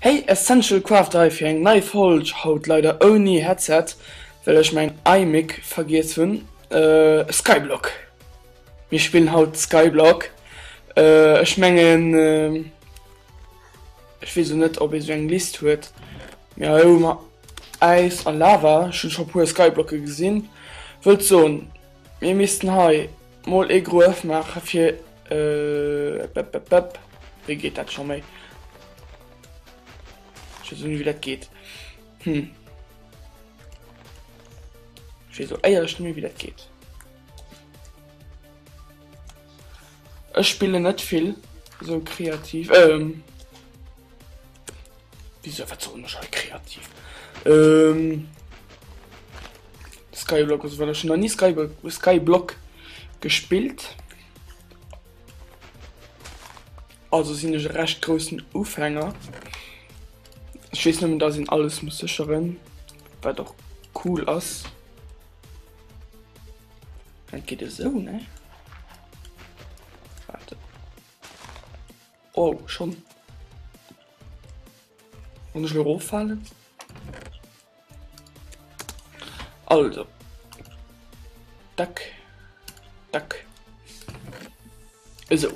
Hey essential craft Ei fir eng nei Folg, haut leider ouni Headset well ech mäin iMic vergiess hunn Skyblock, mir spillen haut Skyblock, ech mengen ech weess elo net ob ee sou eng List huet mee hei hu mer Äis a Lava, ech hunn scho puer Skyblocke gesinn, wëllt soen. Mir missten hei mol ee Gruef maache fir ëppëppëpp, wéi geet dat scho méi? Ech weess och net wéi dat geet. Hm. Ech weess och éierlech net méi wéi dat geet. Ech spillen net vill sou kreativ, ehm wéisou wat sollen ech hei kreativ ehm Skyblock oder sou well ech hunn nach ni Skyblock Skyblock gespillt, also sinn ech e recht groussen Ufänger. Ech weess nëmmen dass een alles muss sécheren, wat och cool ass. Dat geet esou ne. Warte. Oh schon. Und ich lo fallen. Also. Dack. Dack. Esou,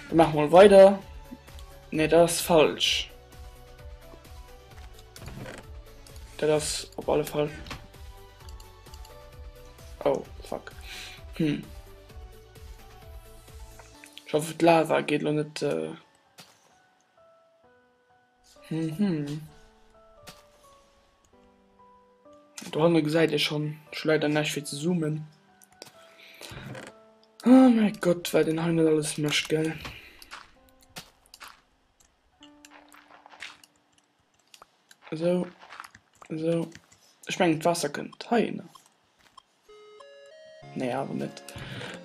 da maache mol weider. Nee, dat ass falsch. Dat ass op alle Fall. Oh, fuck. Hm. Ich hoffe, d'Lava geht lo net. Äh Mhm. Dohanne gesäit Dir schonn, ech hu leider näischt fir ze zoomen. Oh mäi Gott, wat een hei net alles mécht, gell. Esou, esou. Ech mengen d'Waasser kënnt heihinner. Nee awer net.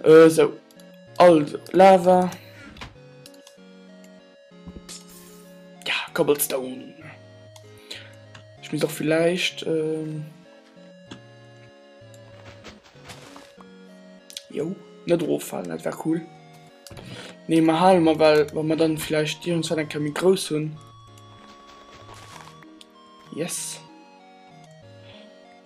Esou. Also, Lava. Ja, Cobblestone. Ech muss och vielleicht. Äh, jo, net roffallen, dat war cool. Nee, ma halen mer well, wann mer dann vielleicht Iren Zäit eng Kemi grouss hunn. Yes.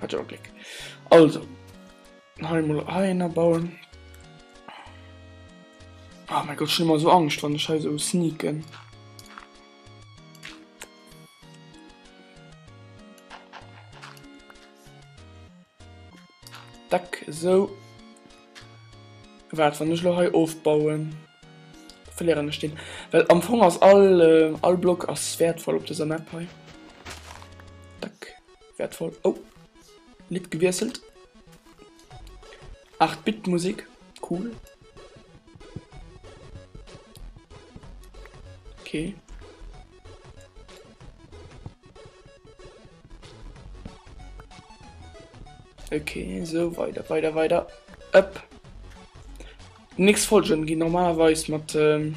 Hat jo Gléck. Also, hei emol hei ënner bauen. Ah, oh mein Gott, schon immer so Angst, wann ich hei so sneaken. Dack, so. Warte, wenn ich noch hei aufbauen, verlieren ich den. Weil am Fong ist all, äh, all Block ist wertvoll auf dieser Map hei. Dack, Wertvoll. Oh, Lidd gewiesselt. 8-Bit-Musik, cool. Okay. Okay, so weiter, weiter, weiter. Up. Nix folgen, die normalerweise mit. Ähm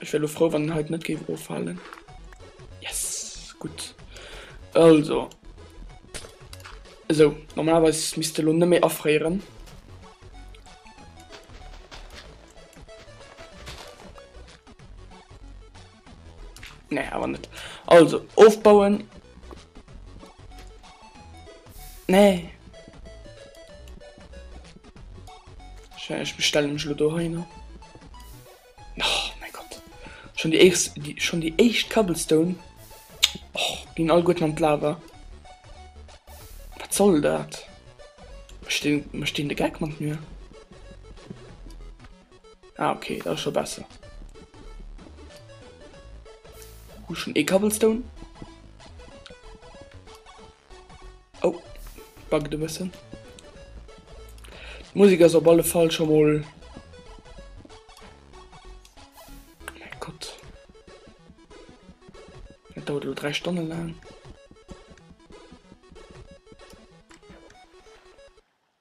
Ech wär lo frou wann en hei net géif offalen. Yes gutt also esou normalerweis misst de lo net méi afréieren. Nee awer net also ofbauen. Nee. Ech bestellen mech lo do hei no. Oh mein Gott. Schon die eischt, die, schon die eischt Cobblestone oh, gin all gut an Lava. Wat soll dat? Mech stehen de Geck mat mir. Ah, okay, dat schon besser. Hu schon e Cobblestone. Oh, buggt e bëssen. D'Musik ass op alle Fall scho mol dauert lo 3 Stonnen laang.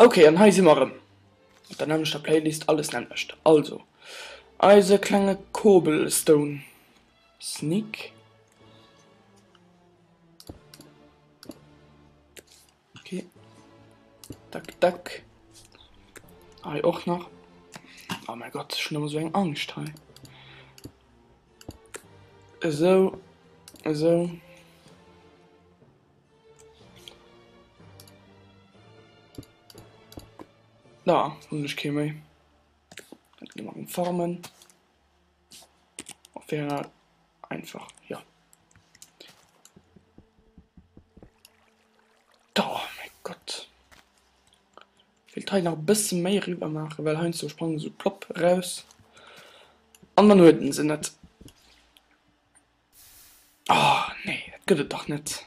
Okay, an hei si mer rëm. Der nämlechter Playlist alles nämmlecht. Also eise klenge Cobblestone Sneak. Okay. Dack, dack. Hei ah, och nach. Oh mein Gott, schon immer so eng Angst hei. So, so. Da, hun ich ké méi. Farmen. Op wäre einfach ja. Da oh mein Gott. Ich will Teil nach ein bisschen mehr rüber machen, weil Heinz so sprangen so plopp raus. An dann huet den se net. Oh nee, dat gëtt et dach net.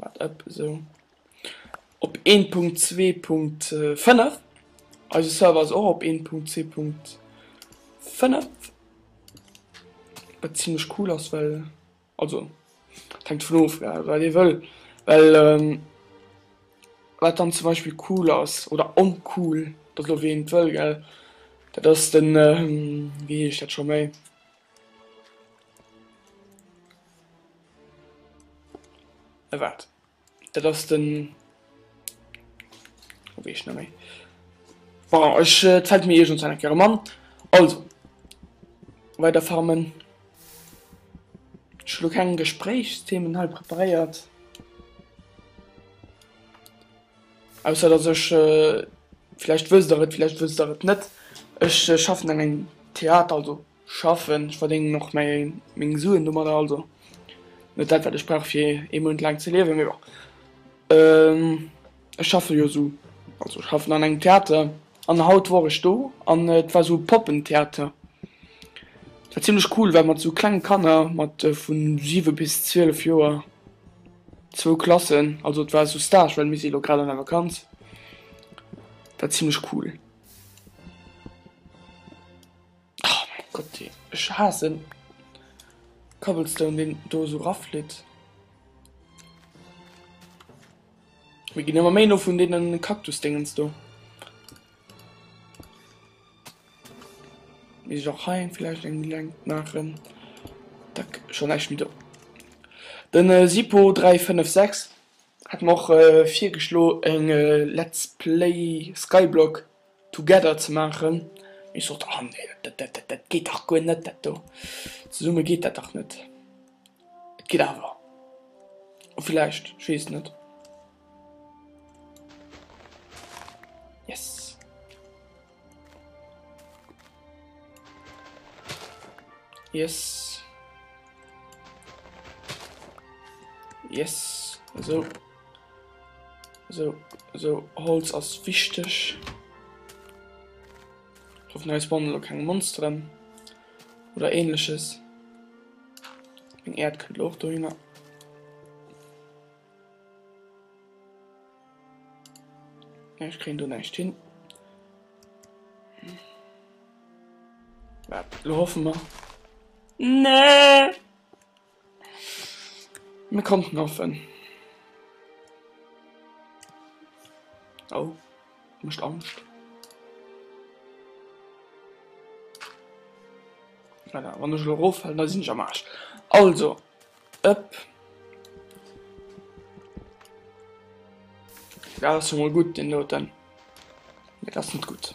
Wat ëpp esou op 1.2.5? Eise Server ass och op 1.2.5. Wat ziemlech cool ass, well also hängt vun of wat ee wëll, well ähm, wat dann zum Beispiel cool ass oder oncool, dat elo wéi een et wëll gell, dat ass den ähm, wéi heescht dat scho méi. Erwaart. Dat ass den. Wéi ech na méi. Bon, ech äh, zäit mir Iech eng Kere Mann. Also weiter farmen. Schlo keng Gesprächsthemen hei preparéiert. Ausser dass ech, vläicht wësst der et, vläicht wësst der et net, ech schaffen an engem Theater, also schaffen, ech verdéngen och mäi meng Suen domadder, also net dat wat ech brauch fir ee Mount laang ze liewen, mee bon. Ech schaffe jo esou, also schaffen an engem Theater, An haut wor ech do an et war sou Poppentheater. Et war zimlech cool well mat sou klenge Kanner, mat vu 7 bis 12 Joer, zwou Klassen, also et war sou Stage well mir si elo grad an der Vakanz, et war zimlech cool. Oh mäi Gott ey, ech haassen Cobblestone deen do sou rafflitt. Mir ginn ëmmer méi no vun deenen Kaktusdéngens do. Mir sech och hei vielleicht eng Link maachen. Dack, schon näischt méi do. Den äh, Sipo 356 hat mer och äh, virgeschlo eng äh, Let's Play Skyblock. Together ze maachen. Ech sot, Ah nee, dat geet dach guer net, dat do zesumme geet dat dach net. Et geet awer vläicht, ech weess et net. Yes. Yes. Yes, esou. So, so Holz ass wichteg. Ich hoffe, neues Bond oder keine Monsteren. Oder ähnliches. Ein Erd könnte auch dahin. Ja, ich kriege da nicht hin. Ja, hoffen wir. Nee! Mir konnten hoffen. Oh, mecht Angscht. Voilà, wann ech lo roffallen, da sinn ech am Arsch. Also, ëpp. Ja, das ist mal gut, den Noten. Ja, das ist gut.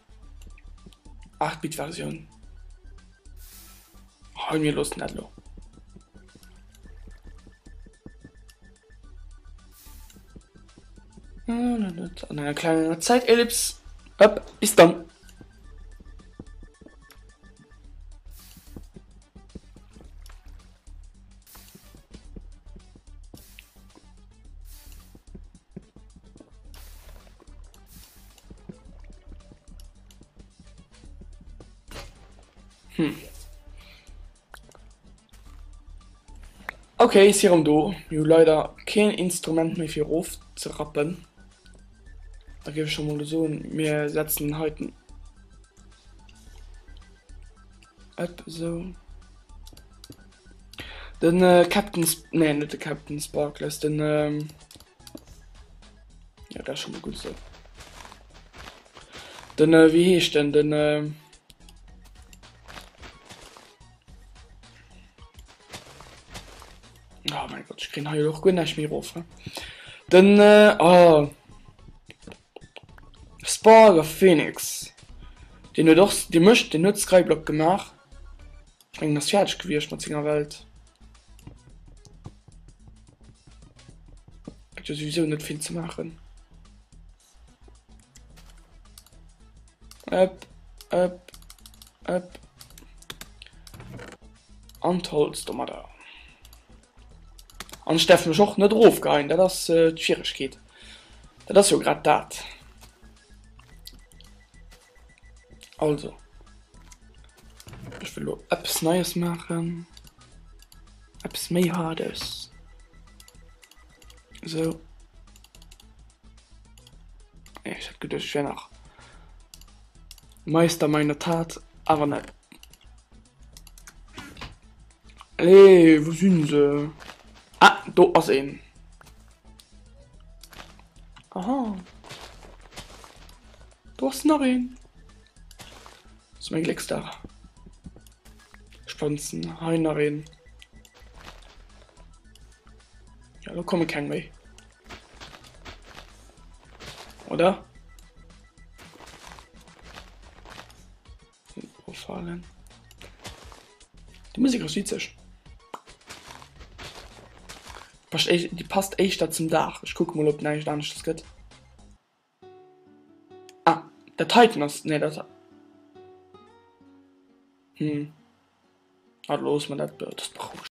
8 Bit Versioun. Hei mir lossen dat lo. An enger klenger Zäitelips. Hop, bis dann. Hm. Okay, si rum do. Jo leider keen Instrument méi fir of ze rappen. Da gi schon mal so mir setzen heiten. Ab so. Den äh, Captain Sp nee, net de Captain Sparkless, den ähm, Ja, das schon mal gut so. Dann, äh, wie heißt denn, dann, äh, Oh mein Gott, ich krieg hier auch gut nicht mehr rauf. Ne? Dann, äh, oh. Sparger Phoenix. Den hat auch, den möchte, den hat Skyblock gemacht. Ech mengen ass fäerdeg gewiecht mat senger Welt. Gëtt jo souwisou net vill ze maachen. Ëpp, ëpp, ëpp. An d'Holz domadder. An ech däerf mech och net erofgeheien, dat ass d'Schwieregkeet. Dat ass jo grad dat. Also Ech wëll lo eppes Neies maachen, eppes méi Haardes. Esou. Ech hat geduecht, ech wär nach Meister meiner Tat, awer net. Ey, wou sinn se? Ah, do ass een. Aha. Do ass nach een. Dat ass mäin Glécksdag. Ech planzen hei nach een. Ja, do komme keng méi. Oder? Profalen. Die Musik ass witzeg. Passt echt, die passt echt da zum Dach. Ich guck mal, ob näischt anescht gëtt. Ah, dat heiten ass, nee dat, hm, ah loosse mer dat, dat ass berouegend.